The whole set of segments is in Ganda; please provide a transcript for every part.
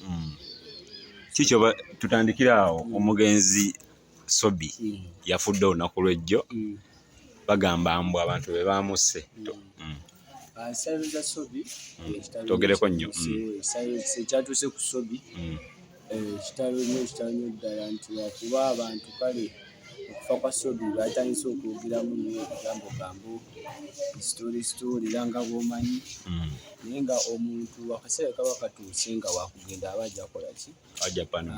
Hmm. kikyoba tutandikira awo hmm. omugenzi sobi hmm. yafudde olunaku lwejjo bagamba mbu abantu be baamusse togereko nnyo ekyatuuse ku sobi Kitalo nnyo kitalo nnyo ddala nti wakuba abantu kale okufa kwa sobi batandise okwogeramu nyo egambo gambo story story era nga bwomanyi mm. naye nga omuntu akaseera kaba katuuse nga wakugenda aba ajja kola ki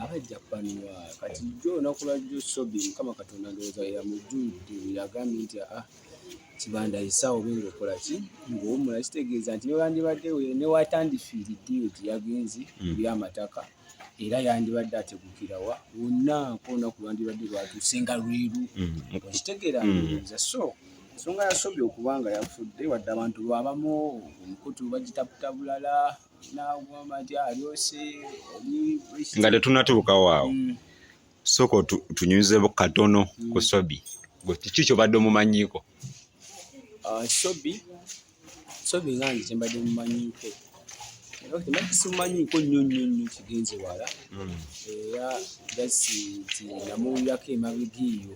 aba ajja paniwa kati jo onaku lwajjo sobi mukama katonda ndowooza yamujjudde yagambye nti aa ah, kibanda yisa obe ngaokola ki ngaowumula kitegeeza nti newandibadde newatandifiiridde eyo gye yagenzi hmm. eri amataka era yandibadde ategukirawa wonna nkonaku lwandibadde lwatuuse nga lweru hmm. okitegeera hmm. ndowooza so ensonga yasobye okuba nga yafudde wadde abantu lwabamu omukutu bagitaputa bulala nagamba nti alyose nga tetunatuukawo awo soko tunyuzebu katono mm. ku sobi kiki kyobadde omumanyiko ah, sobi sobi nga nze kyembadde mumanyiko simumanyiiko nnyo nnyo nnyo kigenze wala mm. era gasi nti namuwulirako emabega eyo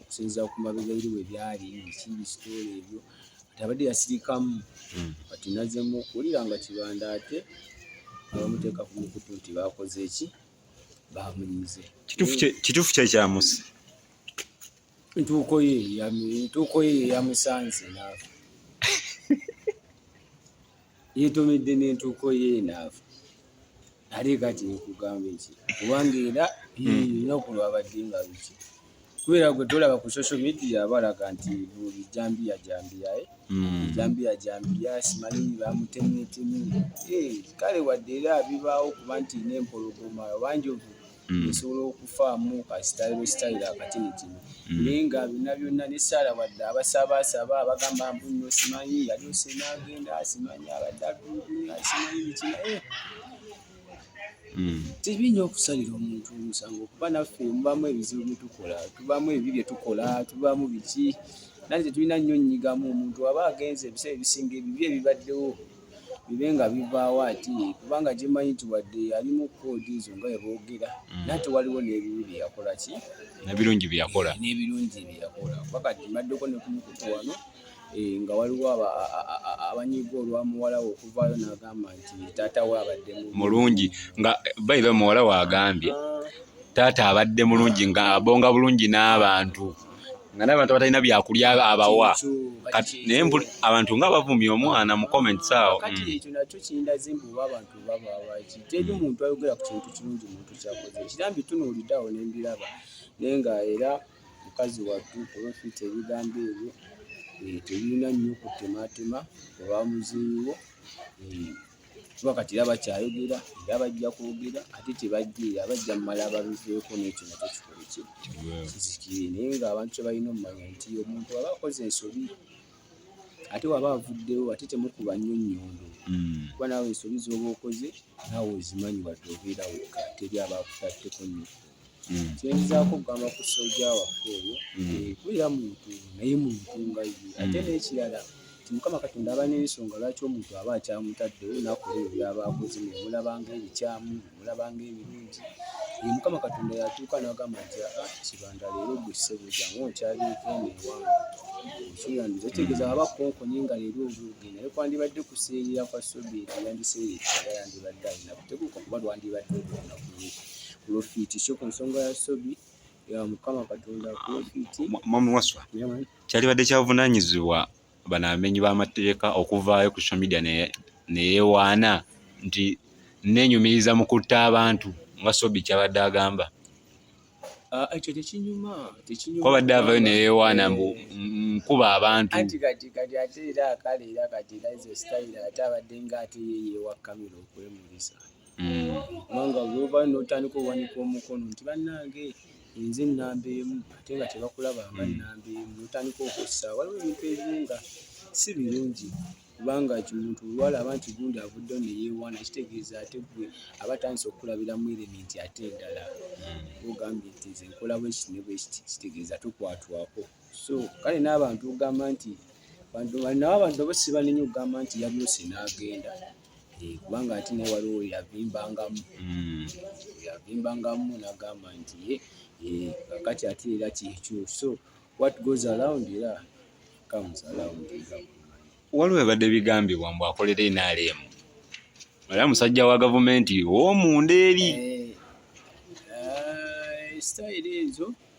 okusinziira ku mabega eri we byali bikiri sitoola ebyo kati abadde yasirikamu hmm. kati nazemu okuwulira nga kibanda ate abamuteeka ku mukutu nti bakoze eki bamunyize kituufu kyekyamusi ntuuko ye ntuuko ye yamusanze naafa yetomedde n'entuuko ye naavu ate kati nkugamba eki kubanga era lunaku hmm. lwabadde nga luki kubera gwe tolaba ku social media balaga nti buli jambiya jambiyae hmm. jambiya jambiya simanyi bamutemyetemy eh, kale wadde era bibaawo kuba nti nempologoma obanjovu mm. nsobola okufaamu kasitayiro sitayiro akatini kino mm. naye nga byonna byonna ne saala wadde abasabaasaba abagamba mbu no simanyi yali osenaagenda asimanyi abadde atulugunya asimanyi biki naye eh. mm. tebinyo okusalira omuntu omusango kuba naffe mubamu ebizibu byetukola tubamu ebibi byetukola tubamu biki nali tetulina nnyo nnyigamu omuntu aba agenze ebiseera ebisinga ebibi ebibaddewo bibe nga bivaawo ati kubanga gyemanyi nti wadde yalimu koodi ezo nga weboogera mm. naye tewaliwo n'ebibi byeyakola ki nebirungi byeyakola eh, n'ebirungi byeyakola kuba kati mbaddeko ne kumukutu wano eh, nga waliwo abanyiga olwa muwala we okuvaayo n'agamba nti taata we abadde mulungi nga bayiba muwala we agambye ah. taata abadde mulungi nga abonga bulungi n'abantu nga nabantu abatalina byakulya abawa naye abantu nga bavumya omwana mu comments awo kati mm. ekyo nakyo kindaze mbu abantu babawaki teri mm. muntu ayogera ku kintu kirungi muntu kyakoze kirambi tunuulidawo nembiraba naye nga era mukazi wattu olwofita ebigambo ebyo eh, tebirina nnyo kutematema oba muziiwo eh. kuba kati era bakyayogera era bajja kwogera ate tebajja era bajja mumala babiveeko nekyo nakyo kikole ki kizikire naye ngaabantu kyebalina omumanya nti omuntu aba akoze ensobi ate waba avuddewo ate temukuba nnyo nnyondo hmm. kuba naawe ensobi zooba okoze naawe ozimanyi wadde obeera wokka teri aba akutatteko nnyo mm. kyenzaako okugamba ku soja waffe oyo kulira muntu naye muntu nga ye ate n'ekirala nti mukama katonda aba n'ensonga lwaki omuntu aba akyamutaddewo nakola ebyo byaba akoze nemulabanga ebikyamu nemulabanga ebirungi ye mukama katonda yatuuka nagamba nti aa ah, kibanda leero gwe ssebujangu okyalieko eno ewange okirandiza otegeeza aba konkonye nga leero obuuge naye kwandibadde kuseerera kwa sobeeti yandiseerera yandibadde alina kuteguka kuba lwandibadde olunaku lwe Profit sio kunsonga ya sobi ya mukama katonda profit. Mama waswa. Kyali badde kyavunanyizibwa banamenyi b'amateeka okuvaayo ku social media neyewaana nti nenyumiriza mu kutta abantu nga sobi kyabadde agamba ah, ekyo tekinyuma tekinyumabadde avayo neyewaana mbu nkuba abantu anti kati kati ate era kale era kati era ezo sitayiro ate abadde nga ate yeyewa kamera okwemulisa mm. kubanga bwoba notandika owanika omukono nti bannange enze ennamba emu ate nga tebakulaba nga mm. nnamba emu notandika okussa waliwo ebintu ebimu nga si birungi kubanga kimuntu olwalaba nti gundi avudde ne yeewaana kitegeeza ate gwe aba atandise okukulabira mu erementi ate endala hmm. ogambye nti nze nkola bwekiti ne bwekiti kitegeeza tukwatwako so kale n'abantu ogamba nti nabo abantu abo sibanenya okugamba nti yabulose n'agenda Eh, kubanga ate naye waliwo yavimbangamu hmm. yavimbangamu nagamba nti ye eh, kakati ate era kyekyo so what goes around era comes around waliwo ebadde bigambibwa mbu akolera enaremu era musajja wa gavumenti owomunda eri eh, sitayiro ezo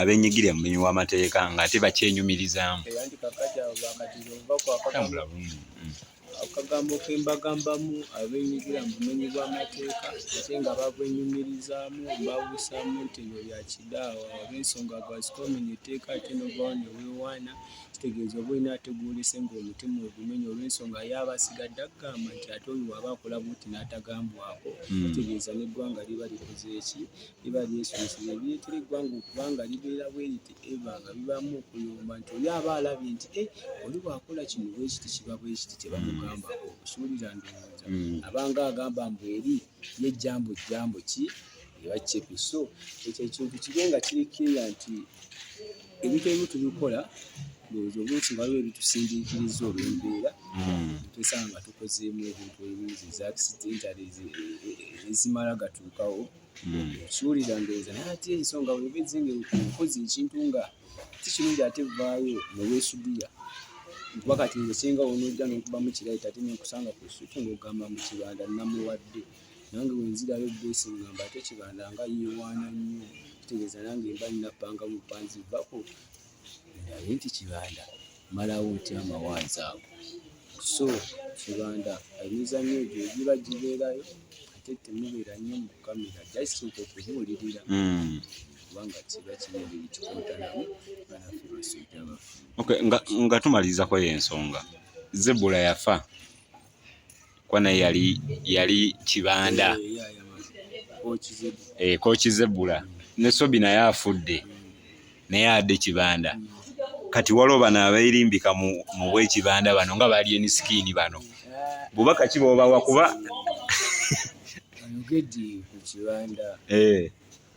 abenyigirira mu mulimu w'amateeka nga ate bakyenyumirizaamu akagambo ke mbagambamu abenyigirira mu bumenyi bw'amateeka ate nga babwenyumirizaamu mbawusaamu nti ebyo bya kidaawa oba ensonga gwazikomenya etteeka ate novawo ne weewaana kitegeeza oba olina ate gwolese ng'omutima ogumenya olw'ensonga yaaba asigadde akugamba nti ate oyo waba akola buti n'atagambwako hmm. kitegeeza n'eggwanga liba likoze eki liba lyesomeseza ebireetera eggwanga okuba nga libeera bwe liti eva nga bibaamu okuyomba nti oli aba alabye nti e oli bwakola kino bwekiti kiba bwekiti kyebamugamba okusuulira ndowooza mm. abanga agamba mbu eri ye jjambo jjambo ki ebakyepi so ekyo ekintu kibe nga kiri kiria nti ebintu ebimu tubikola ndowooza obuusi nga waliwo ebitusindiikiriza olwembeera mm. twesanga nga tukozeemu ebintu ebingi eza accident ezimala gatuukawo kiwulira ndowooza naye ate ensonga weba ezenga okoze ekintu nga si kirungi ate vaayo newesudiya kuba kati nze singa onojja nokubamu kirayita ate nenkusanga ku suki ngaogamba mu kibanda namuwadde nange wenzirayo bwesingamba ate kibanda nga yewaana nnyo kitegeeza nange mba nina panga mupanzi vako naye nti kibanda malawo nti amawaanzi ago so kibanda emizanyo egyo egiba gibeerayo ate temubeera nnyo mu kamera jasooka okubuulirira hmm. kubanga kiba kibinbiri kikontanamu banafe basajja baffe nga tumaliriza kweyo ensonga zebula yafa kwana yali yali kibanda eh, kokizebula eh, ne sobi naye afudde naye adde kibanda kati waliwo bano abairimbika mu bwekibanda bano nga bali eni sikini bano bubaka ki bwobawa kuba ayogedde ku kibanda eh.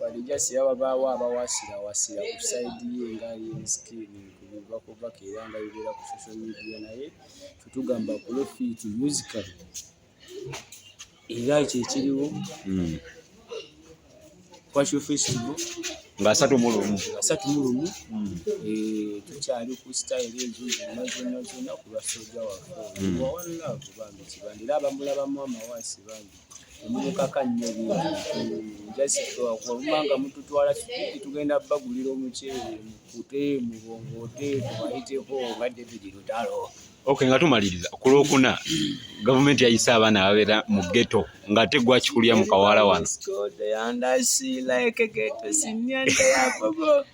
Bali just yaba bawo abawasira wasira ku side ye nga yin skin kubiva ku baka era nga bibera ku social media naye tutugamba ku lo fit musical era ekyo ekiriwo hmm. kwa show festival nga asatu mu lumu asatu mu lumu hmm. eh, tukyali ku style ezo zonna zonna zonna ku lwa soja waffe hmm. wawalina kubange kibandi era abamulabamu amawasi bangi temumukaka nnyo bintuwaluma nga mututwala kikuki tugenda bagulira omuceere mukute mubongoote tubayiteko nga david lutalo ok nga tumaliriza ku lwokuna gavumenti yayise abaana ababeera mu geto ngaate gwakikulya mu kawala wano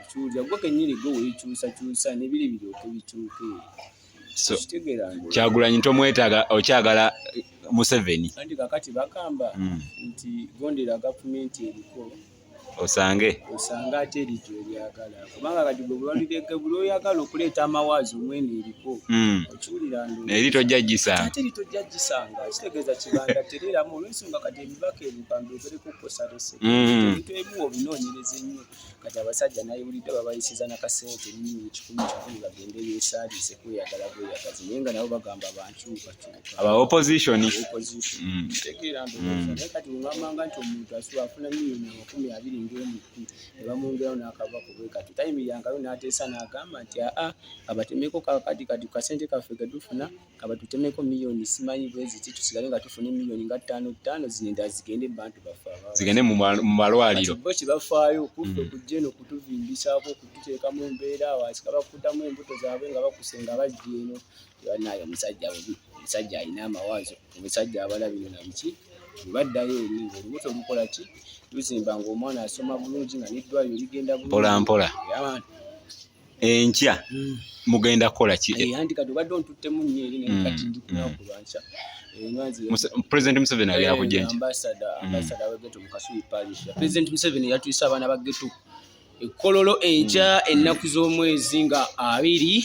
ekyulira gwe kenyini gwe wekyusakyusa nebiri biryoke bikyuke kyagulanyi tomwetaaga okyagala museveni anti kakati bagamba hmm. nti gondera gavumenti eriko osange osange ate erikyo eryagala kubanga kati gwe bulwanirege buli oyagala okuleeta amawaazi omwene eriko hmm. okiwulira eri tojja gisanga ate eri tojja gisanga kitegeeza kibanda tereeramu olwensonga kati ebibaka ebyo kambeebereko kukosalese hmm. ebintu ebimu obinoonyereza ennyo kati abasajja nayiwulidde babayisiza nakasente nini kikumi kikumi bagende besaaliise kweyagala bweyagazi naye nga nabo bagamba bankyukakyuka aba opposition mm. tegeera ndowooza mm. naye kati wemwamanga nti omuntu asuba afuna miliyoni amakumi abiri ngaomutu ne bamwongerawo n'akava ku bwe kati tayimirangayo n'ateesa n'agamba nti aa abatemeko kakati kati kasente kaffe gedufuna kaba tutemeko million simanyi bweziti tusigale nga tufuna emiliyoni nga ttaano ttaano zino endala zigende bantu baffe zigende mu malwaliro bo kibafaayo kuffe mm. kujja eno kutuvimbisako okututeeka mu mbeera waasi kabakutamu embuto zaabwe nga bakusenga bajja eno banaye omusajja bubi omusajja alina amawaazo omusajja abala bino na biki bwebaddayo eri ngaolubuto lukola ki luzimba ngaomwana asoma bulungi nga neddwayo ligenda bulungi mpolampola enkya mm. mugenda kukola ki president museveni ali akujja enkya president museveni yatuyisa abaana ba geto ekkololo enkya mm. ennaku z'omwezi nga abiri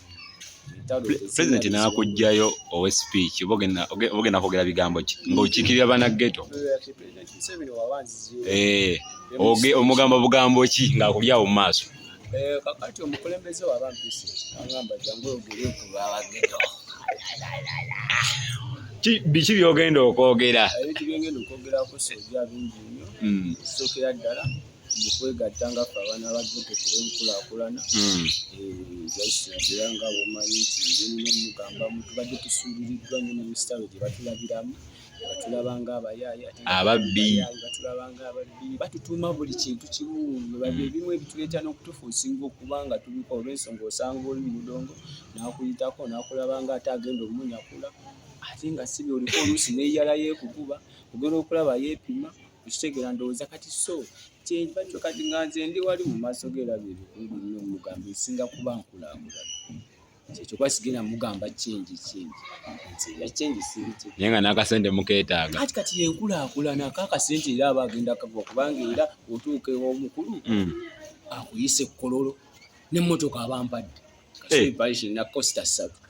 president nakujjayo owe speech obogenda kwogera bigambo ki ngaokiikirira bana geto eh, omugamba bugambo ki ngaakuli awo mu maaso eh, kakati omukulembeze wabampisi agamba jangu ogere kubawageto biki byogenda okwogera ebintu byengenda okwogerako soja bingi nnyo hmm. sookera ddala kwegatta nga ffe abaana ba ghetto kuba enkulaakulana hmm. era nga bwomanyi nti ngenina omugambamu tubadde tusuubiriddwa nyo ne misitalo gye batulabiramu batulaba nga abayaaye ababbi batulaba nga ababbi batutuuma buli kintu kimu webabye hmm. ebimu ebituleeta n'okutufuusinga okuba nga tubiko olw'ensonga osanga oli mu mudongo n'akuyitako n'akulaba nga ate agenda omunyakula ate nga sibi oliko oluusi neyala yeekukuba ogenda okulaba yeepima Okitegera ndowooza kati so kyenva kyo kati nga nze ndi wali mu maaso ge era bye bikulu byonna omugamba esinga kuba nkulaakulana. Kyekyo kuba sigenda mugamba kyengi kyengi nti era kyengi siri kye. Naye nga n'akasente mukeetaaga. Kati kati yenkulaakulana ako akasente era aba agenda kagwa kubanga era otuuka ew'omukulu Mm. akuyise kololo n'emmotoka aba ampadde. Eh. Kasubi parish na costa ssatu.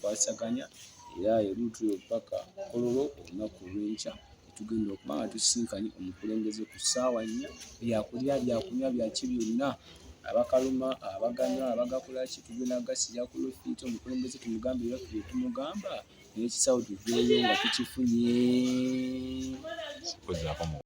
kwasaganya era erutuyo paka kololo olunaku olwenkya tugenda okuba nga tusisinkanye omukulembeze ku ssaawa nnya byakulya byakunywa byaki byonna abakaluma abaganywa abagakolaki tugenda gasiya ku lofiiti omukulembeze tumugambe ebaffe byetumugamba nekisawo tuveeyo nga tukifunye